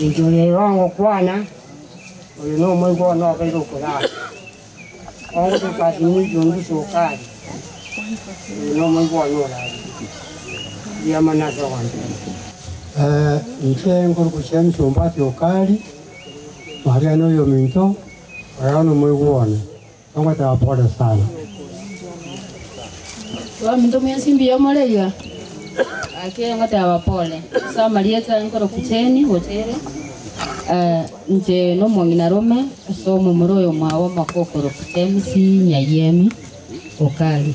Inchuo yaino ogokwana, Oyo nomoigwa one obeire okoyaka. Ongotuka ase eng'encho engusu okaria, Oyo nomoigwa one orarie riamana ase ogontebia. Inche nkorukusia emisomba ase okaria, Maria noyominto, oreo nomoigwa one. Ogoteba pole sana. Omonto mwensi mbuya omoreria ake ngoteba pole. Ase amarieta nkoroku Jane gochire inche nomong'ina rome ase omomura oyo mwabo omoko okoroku James Nyayemi Okari.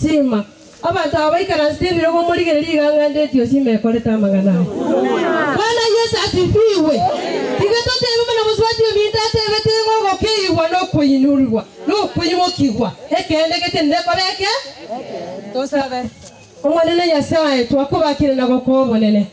Sima, abanto aba baikaransete ebirogo omorigereria iga ang'andire etiosi ime ekorete amang'ana aya. Bwana Yesu asifigwe! Iga totebe buna mosubati ominto atebete igo ogokeigwa nokoinurigwa nokoimokigwa ekeene getenire koba eke. Tosabe. Omonene Nyasae, twakobakire na gokoa obonene.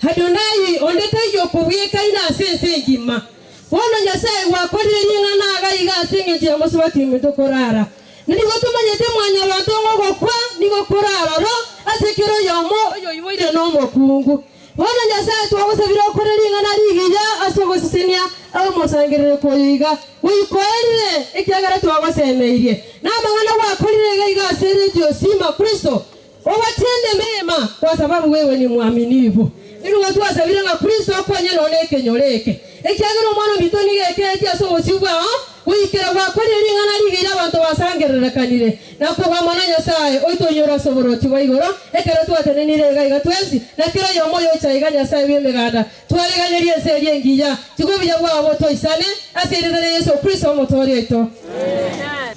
Adonai, onde taiyo okobwekaina ase ense engima. Bono Nyasae gwakorire ring'ana aga iga ase engencho ya mosubati ominto korara. Nigo tomanyete Mwanyabaanto ng'a ogokwa nigo koraroro ase kera oyomo oyoiboire nomokungu. Bono Nyasae twagosabire okore ring'ana rigiya ase ogosisenia abamosangerereku oyo iga gweikoerire, ekiagera twagosemeirie namang'ana gwakorire iga iga ase Redio Sima Kristo Obatende meema kwa sababu bwewe ni mwaminifu. Nigo twasabire ng'a Kristo akonye nonya nekenyoro eke, ekiagera omwana ominto nigo ekeretie ase obosio bwao goikera gwakorire ring'ana ribe ira abanto basangererekanire na koba amo na Nyasae oito oinyore ase oborochi bwa igoro ekero twatenenire iga iga twensi na kera oyomo oyocha iga Nyasae bw'emeganda twareganerie ense eria engiya tiga obuya bwao botoisane ase eritana Yesu Kristo Omotoori oito. Amen.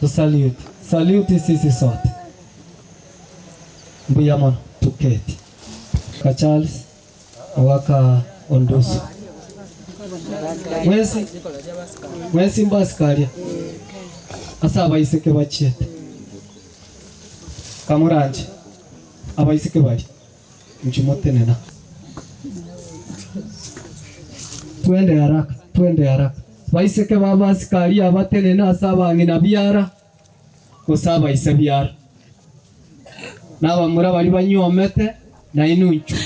To salute, salute sisi sote. Mbuya mono, toketi. Ka Charles ogaka ondusu. Mwensi, mwensi mbasikaria ase abaiseke bachiete. Kamoranche abaiseke baria. Inchuo motenena. Twende haraka, twende haraka. Baiseke b'abasikari abatenene ase abang'ina biara, gose abaise biara, na abamura baria banyuomete, nainwe inchuo.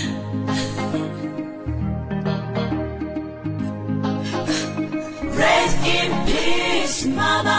Rest in peace, mama.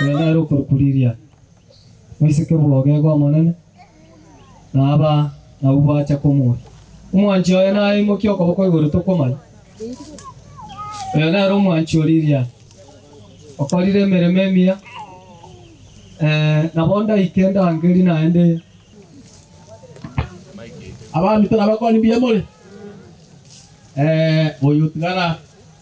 Nigo ere okorikuriria moiseke bw'ogego Omonene, na aba nabwo bwacha komoria, Omwanchi oye naye aimokie okoboko igoro tokomanya? Oyo nere omwanchi o riria okorire emeremo emiya, ee, nabo ndaike ndangeri naende. Abamito nabakoni mbuya more? Ee, oyo otigara.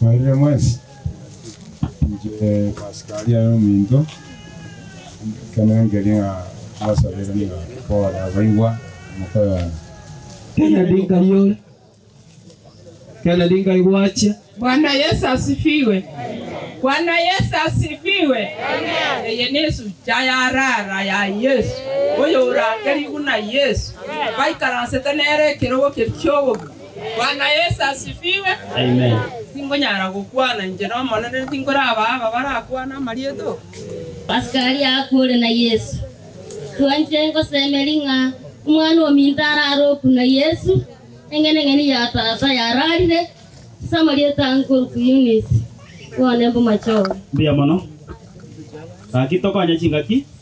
Mwarire mwensi? Inche Pasika aria ere ominto, ekero nangeri ng'a mbasabere ng'a pole abaibwa mokoyona. Kennedy Nkayi ore. Kennedy Nkayi gwachia. Bwana Yesu asifiwe. Bwana Yesu asifiwe. Eye nesu cha ya rara ya Yesu, oyo orake riguna Yesu, baikaransete nere ekerogo keria ki'obobe. Bwana Yesu asifiwe. Amen. Tingonyara gokwana inche n'Omonene, tinkorabaa aba barakwane amarieto. Askari akore na Yesu, Twanchire ngosemeri ng'a omwana ominto arare oku na Yesu, eng'eneng'eni ya tata yararire, ase amarieto aa nkoruku Eunice, bone mbomachore. Mbuya mono. Gaki tokonye chingaki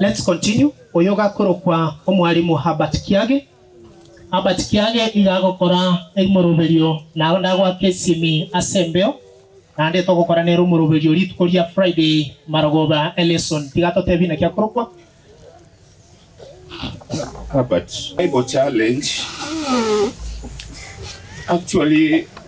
Let's continue, oyogakorokwa omwalimu Herbert Kiage, Herbert Kiage iga agokora ermoroberio naro ndagoake esimi ase embeo naende togokora nere omoroberio rituko ria Friday marogoba e lesson tiga totebi naki akorokwa. Herbert, Bible challenge actually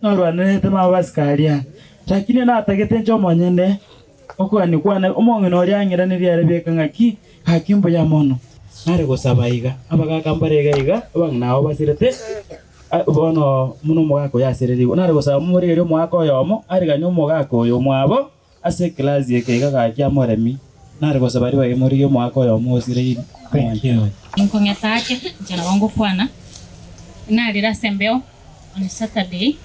Narwanerete n'abasike aria, lakini natagete inche omonyene okogania kwane. Omong'ina oria ang'iranerie are bieka ng'aki, ng'aki mbuya mono. Nare gosaba iga, abagaka mbare iga iga, abang'ina abo basirete, bono buna omogaka oyo asererigwe. Nare gosaba momorigerie omogaka oyomo ariganie omogaka oyo mwabo. Ase ekelasi ekeiga gachia omoremi nare gosaba ribaga imori ri'omwaka oyomo osireire omwancha oyomo. Nkong'eta ake inche nabo ngokwana, narire ase embeo on Saturday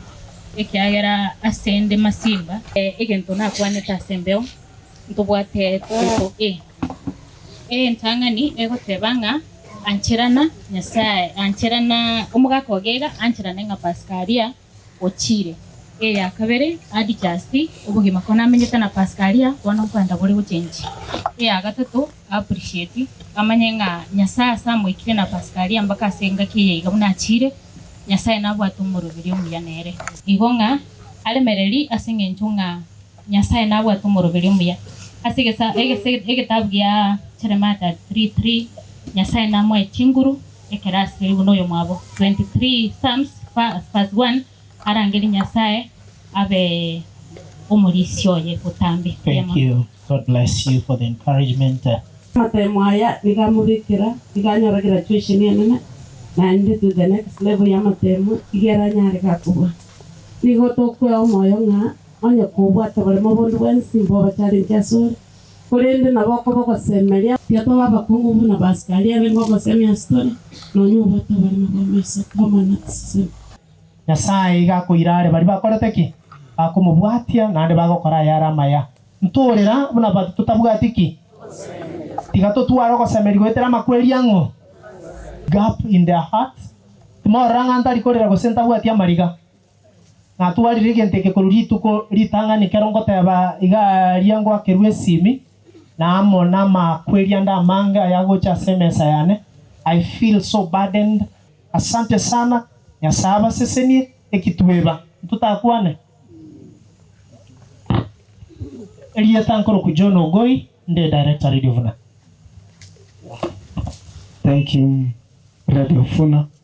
ekiagera ase inde masimba. Egento nakwanete ase embeo ntobwate tokoko e. Entang'ani egoteba ng'a ancherana Nyasaye, ancherana omogaka ogega ancherane ng'a Paskaria. ochiire. Eya kabere Adijasti, obogima ko namenyete na Paskaria, bono nkwenda bore gochenchi. Eya gatato Apurisheti, amanye ng'a Nyasae ase amoikire na Paskaria mpaka ase engaki eye iga buna achiire, Nyasae nabwate omoroberi omuya nere. Igo ng'a aremereri ase engencho ng'a Nyasae nabwate omoroberi omuya. Ase egesa egese egetabu gia Jeremia 33 3 Nyasae namoe chinguru ekero asire buna oyomwabo. 23 Psalms verse 1 Arangerie Nyasae abe omorisia oye botambe. Thank you God bless you for the encouragement. Amatemo aya nigo amobekera nigo anyora graduation enene naende to the next level ya amatemo iga ere anyare ga kobua. Nigo tokwea omoyo ng'a onye kobwate oboremo bonde bwensi mbobacharenche asore. Korende nabo okoba ogosemeria, tiatoba abakungu buna baasikari abe ngogosemia ase tore, nonya obwate oborimo bw'amaiso twamana tiseseme. Nyasae iga akoira are baria bakorete ki? Bakomobwatia, naende bagokora ayare amaya. Ntoorera buna baria totabwati ki? Ogosemeria. Tiga totware ogosemeria goetera amakweri ang'u, gap in their hearts, timorora ng'a ntari korera gose ntabwati amariga. Natwarire egento eke korwa rituko ritang'ani ekero ngoteba iga aaria ngwakerwe esimi, na amo namakweri ande amange ayagocha ase emesa yane. I feel so burdened. Asante sana, Nyasae abasesenie. Ekitueba, ntotakwane? Erieta nkoroku John Ogoi, nde Director Radio Vuna. Thank you Radio Vuna.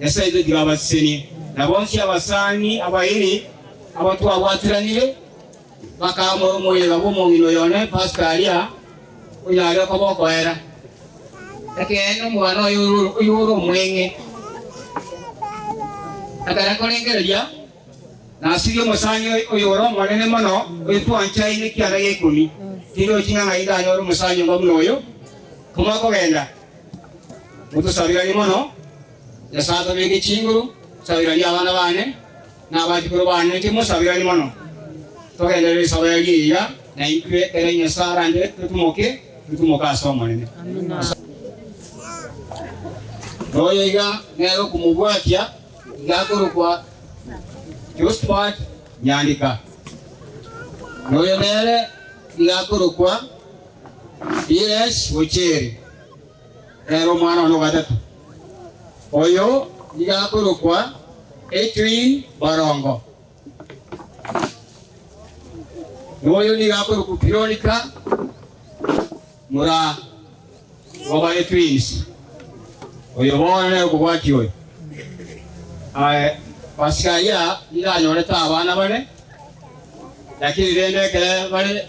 Nyasae oito tiga abasisenie. Na bonsi abasani abairi abo twabwatiranire bakamoe omoyega bw'omong'ina oyo one, Pasika aria, onyare okoba okoera. Ekeene omwana oye oyio ore omweng'e atare korengereria, nasirie omosani oyo ore omonene mono, oyo twanchaine ekianda gi'eikumi, tindi ochinyang'aini ndanyore omosani omba buna oyo, komoe kogenda, Motosabiranie mono. Nyasae atobeke chinguru, sabirania abana bane na abachukuru bane, inche mosabiranie mono. Togenderere esabo yaino eyiya, na intwe ekero Nyasae arande totumoke, totumoke ase Omonene. Ase. Na oyo iga nere okomobwatia, iga akorokwa Josphat Nyandika. Na oyo nere iga akorokwa. Yesu ocheri, ere omwana one o gatato, oyo nigo akorokwa Etwin Borongo, na oyo nigo akorokwa Pironika, mura oba Etwins, oyo bono nere okobwatia oyo. Aye, Pasika aya nigo anyorete abana bane, lakini rende ekero bare